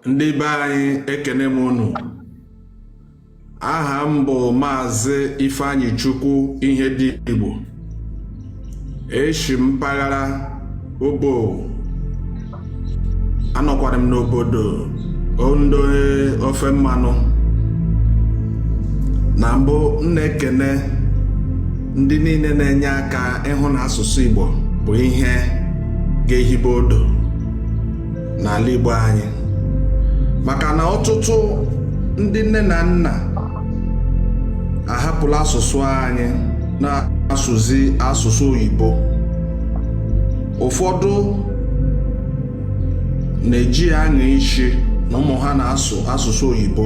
ndị be anyị ekene m unu aha m bụ maazị ifeanyichukwu ihedigbo eshi m mpaghara obo anọkwara m n'obodo ondo ofe mmanụ na mbụ m na-ekene ndị niile na-enye aka ịhụ na asụsụ igbo bụ ihe ga-ehibe odo n'ala Igbo anyị maka na ọtụtụ ndị nne na nna ahapụla asụsụ anyị na-asụzi asụsụ oyibo ụfọdụ na-eji ya anya isi na ụmụ ha na-asụ asụsụ oyibo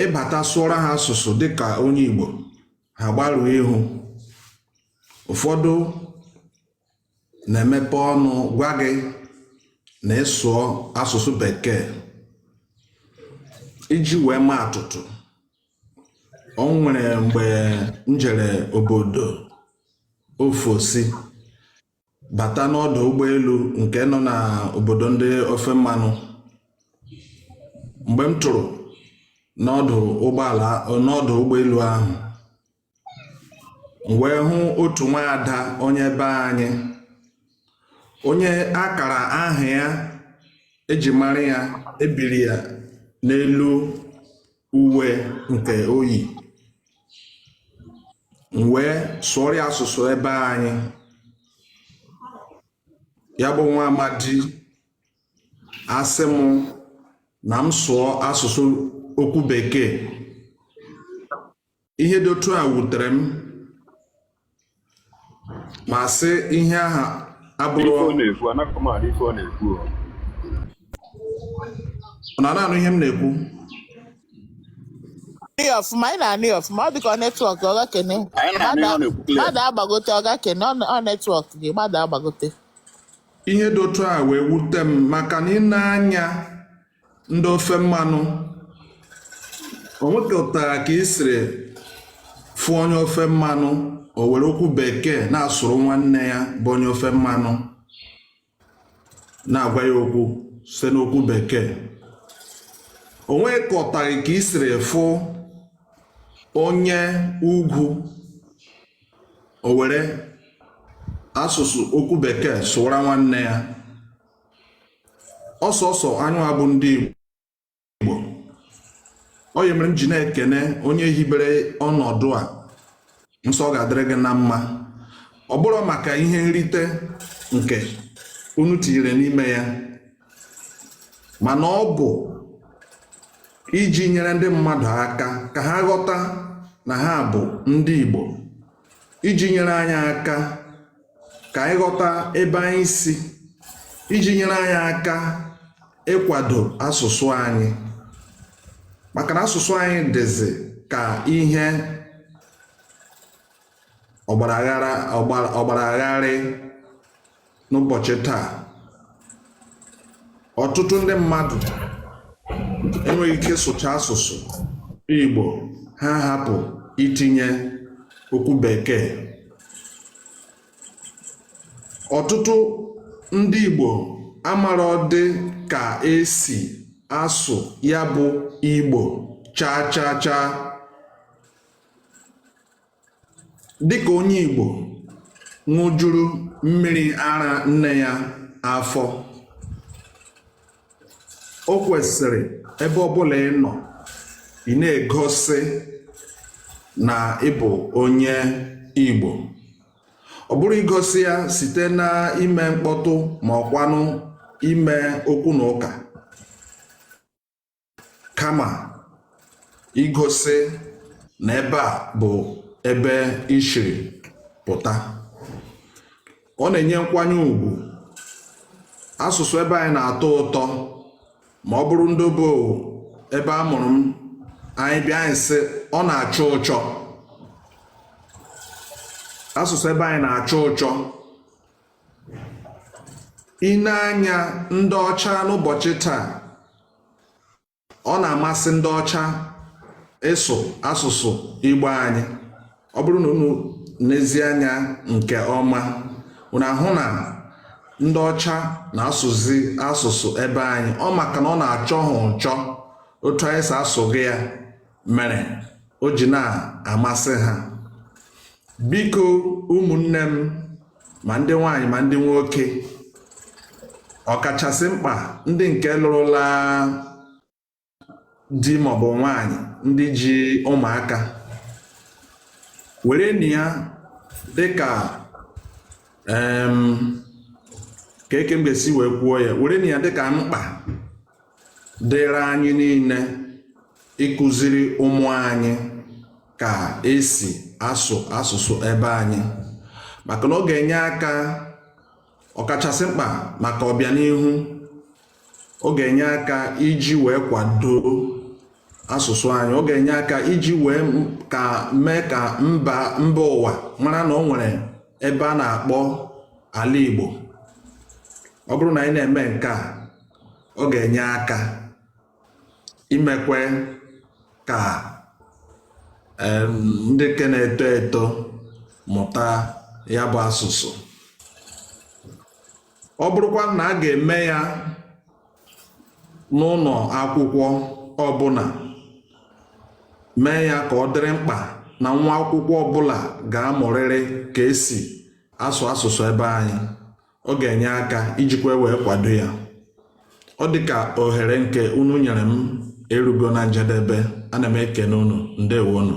ị bata sụọrọ ha asụsụ dịka onye Igbo ha gbarụọ ihu ụfọdụ na-emepe ọnụ gwa gị na ị sụọ asụsụ bekee iji wee maa atụtụ o nwere mgbe m jere obodo ofesi bata n'ọdụ ụgbọelu nke nọ na obodo ndị ofe mmanụ mgbe m tụrụ n'ọdụ ụgbọala n'ọdụ ụgbọelu ahụ m wee hụ otu nwaada onye be anyị onye akara aha ya e ji mara ya e biri ya n'elu uwe nke o yi m wee sụọrọ ya asụsụ ebe anyị ya bụ nwa amadi asị m na m sụọ asụsụ okwu bekee ihe dị otu a wutere m ma sị ihe aha abụrụ na a na-anụ ihe m na-ekwu ọfụma anyị na-anụ ya ọfụma ọ dịka netwọk ọ gakene mmadụ agbagote ọ gakene ọ netwọk gị mmadụ agbagote ihe dị otu a wee wute m maka na ị nee anya ndị ofe mmanụ o nwekọtaghị ka i siri fụ onye ofe mmanụ o were okwu bekee na-asụrụ nwanne ya bụ onye ofe mmanụ na-agwa ya okwu site n'okwu bekee o nwekọtaghị ka i siri fụ onye ugwu o were asụsụ okwu bekee sụwara nwanne ya ọ sọsọ anyị bụ ndị Igbo ọ ihe mere m ji na-ekene onye hibere ọnọdụ a m sị ọ ga-adịrị gị na mma ọ bụrọ maka ihe nrite nke unu tinyere n'ime ya mana ọ bụ iji nyere ndị mmadụ aka ka ha ghọta na ha bụ ndị Igbo iji nyere anyị aka ka anyị ghọta ebe anyị si iji nyere anyị aka ịkwado asụsụ anyị maka na asụsụ anyị dịzi ka ihe ọgbara gharị n'ụbọchị taa ọtụtụ ndị mmadụ enweghị ike sụcha asụsụ Igbo ha hapụ itinye okwu bekee ọtụtụ ndị Igbo amarọdị ka esi asụ ya bụ Igbo chaa chaa chaa dịka onye Igbo ṅụjuru mmiri ara nne ya afọ o kwesịrị ebe ọbụla ị nọ ị na-egosi na ị bụ onye Igbo ọ bụrọ igosi ya site na ime mkpọtụ ma ọkwanụ ime okwu na ụka kama igosi na ebe a bụ ebe i shiri pụta ọ na-enye nkwanye ugwu asụsụ ebe anyị na-atọ ụtọ ma ọ bụrụ ndị obodo ebe a mụrụ m anyị bịa anyị sị ọ na-achọ ụchọ asụsụ ebe anyị na-achọ ụchọ i nee anya ndị ọcha n'ụbọchị taa ọ na-amasị ndị ọcha ịsụ asụsụ Igbo anyị ọ bụrụ na unu nezie anya nke ọma unu ahụ na ndị ọcha na-asụzi asụsụ ebe anyị ọ maka na ọ na-achọ ha ụchọ otu anyị si asụ ya ya mere o ji na-amasị ha biko ụmụnne m ma ndị nwaanyị ma ndị nwoke ọkachasị mkpa ndị nke lụrụla di maọbụ nwaanyị ndị ji ụmụaka werenụ ya dịka kee ka m ga-esi wee kwuo ya werenụ ya dịka mkpa dịrị anyị niile ịkụziri ụmụ anyị ka esi asụ asụsụ ebe anyị maka na ọ ga-enye aka ọkachasị mkpa maka ọbịanihu ọ ga-enye aka iji wee kwado asụsụ anyị ọ ga-enye aka iji wee ka mee ka mba mba ụwa mara na ọ nwere ebe a na-akpọ ala Igbo ọ bụrụ na anyị na-eme nke a ọ ga-enye aka imekwe ka ndị ke na-eto eto mụta ya bụ asụsụ ọ bụrụkwa na a ga-eme ya n'ụlọ akwụkwọ ọbụla mee ya ka ọ dịrị mkpa na nwa akwụkwọ ọbụla ga-amụrịrị ka esi asụ asụsụ ebe anyị ọ ga-enye aka ijikwa e wee kwado ya ọ dị ka ohere nke unu nyere m erugo na njedebe ana m ekene unu ndewonu